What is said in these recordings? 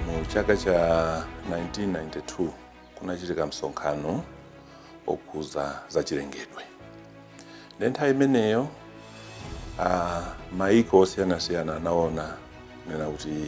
mu chaka cha 1992 kunachitika msonkhano okhuza za chilengedwe nde nthawi imeneyo ah, maiko osiyanasiyana anaona kunena kuti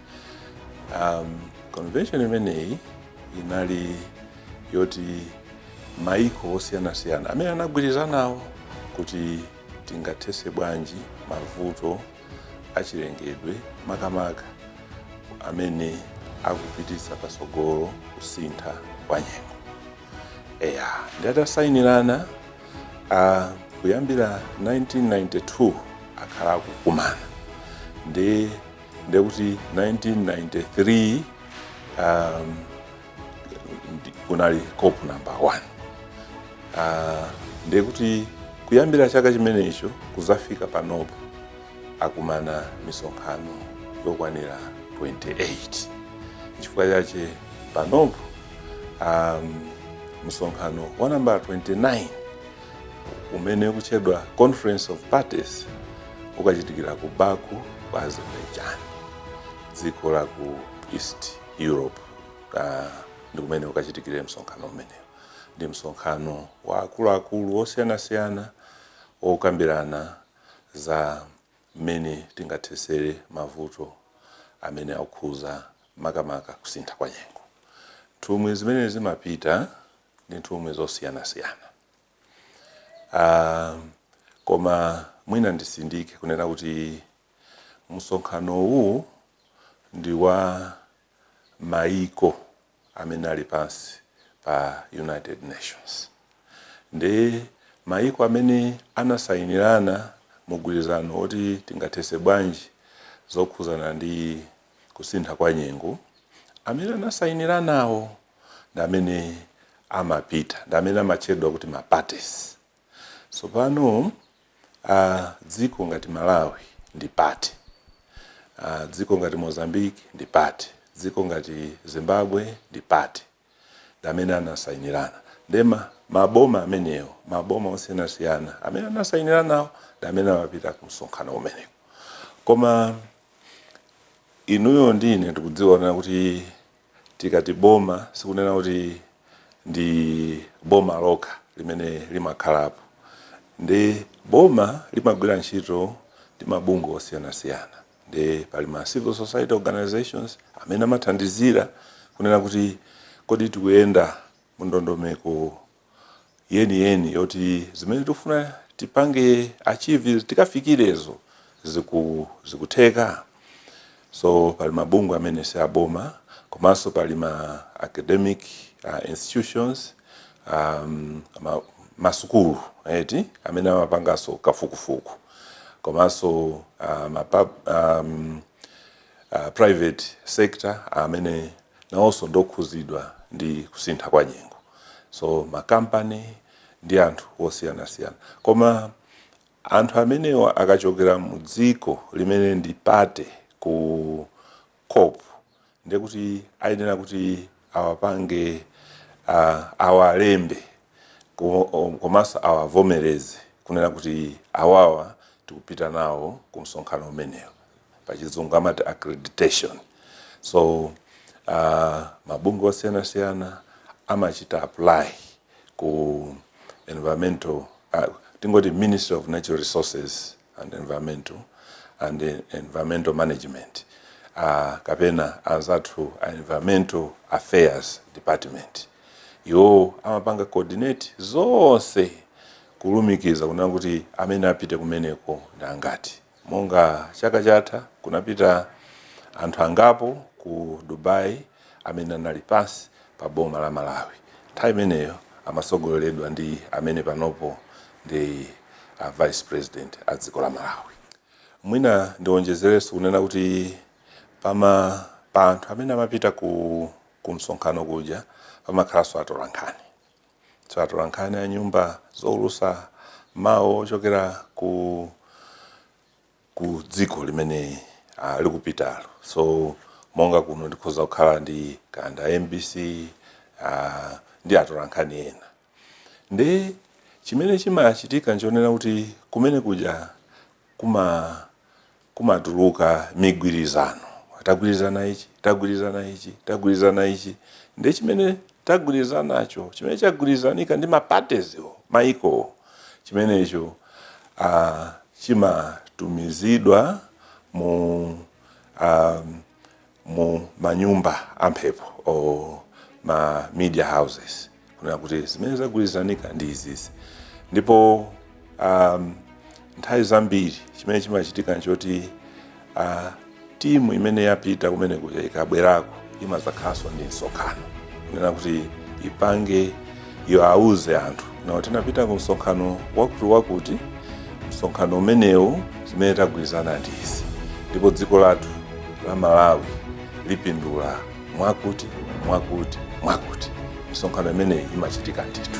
um, convention imeneyi inali yoti maiko osiyanasiyana amene anagwirizanawo kuti tingathese bwanji mavuto achilengedwe makamaka amene akupititsa patsogolo kusintha kwa nyengo eya nde atasainirana uh, kuyambira 1992 akhala akukumana ndi ndekuti 1993 um, ndi- kunali cop number 1 uh, ndekuti kuyambira chaka chimenecho kuzafika panopo akumana misonkhano yokwanira 28 chifukwa chache panopo um, msonkhano wa nambala 29 umene ukutchedwa conference of parties ukachitikira ku baku ku azerbaijan dziko la ku east europe uh, ndi kumene ukachitikire msonkhano umenewu ndi msonkhano wa akuluakulu osiyanasiyana okambirana za mmene tingathesere mavuto amene akukhuza makamaka kusintha kwa nyengo nthumwi zimene zimapita ndi nthumwi zosiyanasiyana uh, koma mwina ndisindike kunena kuti msonkhano uwu ndi wa maiko amene ali pansi pa united nations ndi maiko amene anasayinirana mugwirizano woti tingathese bwanji zokhuzana ndi kusintha kwa nyengo amene anasayiniranawo ndi amene amapita ndi amene amatchedwa kuti ma parties tsopano ah, dziko ngati malawi ndi party Ah, dziko ngati mozambique ndi party dziko ngati zimbabwe ndi party ndi amene anasayinirana nde ma- maboma amenewo maboma osiyanasiyana amene anasayiniranawo ndi amene amapita ku msonkhano umenewu koma inuyo ndi ine tikudziwa kuti Tikati boma sikunena kuti ndi boma lokha limene limakhalapo. Nde boma limagwira ntchito ndi mabungwe osiyanasiyana. Nde pali ma civil society organisations amene amathandizira kunena kuti kodi tikuyenda mundondomeko. yeniyeni yoti zimene tikufuna tipange achieve tikafikirezo ziku, zikutheka so pali mabungwe amene si aboma komanso pali ma academic uh, institutions um, ma, masukulu eti amene amapanganso kafukufuku komanso uh, ma, pub- um, uh, private sector amene nawonso ndi okhuzidwa ndi kusintha kwa nyengo so makampani ndi anthu osiyanasiyana koma anthu amenewa akachokera mu dziko limene ndi party ku cop ndiye kuti ayenera kuti awapange uh, awalembe komanso awavomereze kunena kuti awawa tikupita nawo ku msonkhano umenewo, pachizungu amati accreditation. So uh, mabungwe osiyanasiyana amachita apply ku environmental uh, tingoti Ministry of Natural Resources and Environmental and Environmental Management uh, kapena anzathu a Environmental Affairs Department iwo amapanga coordinate zonse kulumikiza kunena kuti amene apite kumeneko ndi angati monga chaka chatha kunapita anthu angapo ku dubai amene anali pansi pa boma la malawi nthawi imeneyo amatsogoleredwa ndi amene panopo ndi a vice president a dziko la malawi mwina ndionjezerenso kunena kuti pama pa anthu amene amapita ku kumsonkhano kuja pamakhalanso atolankhani so atolankhani a nyumba zoulusa mawu ochokera ku ku dziko limene ah, likupitalo so monga kuno ndikhoza kukhala ndi kanda mbc ah, ndi atolankhani ena Nde chimene chimachitika nchonena kuti kumenekuja kuma kumatuluka migwirizano. Tagwirizana ichi, tagwirizana ichi, tagwirizana ichi. Nde chimene tagwirizanacho, chimene chagwirizanika ndi ma parties wo, maikowo, chimenecho ah chimatumizidwa mu ah mu manyumba amphepo or ma media houses kunena kuti zimene zagwirizanika ndi izizi ndipo um, nthawi zambiri chimene chimachitika nchoti uh, timu imene yapita kumeneko ija ikabwerako imadzakhalanso ndi msonkhano kunena kuti ipange iwauze anthu now tinapita ku msonkhano wakuti wakuti msonkhano umenewu zimene tagwirizana ndi izi ndipo dziko lathu la malawi lipindula mwakuti mwakuti mwakuti misonkhano imeneyi imachitika ndithu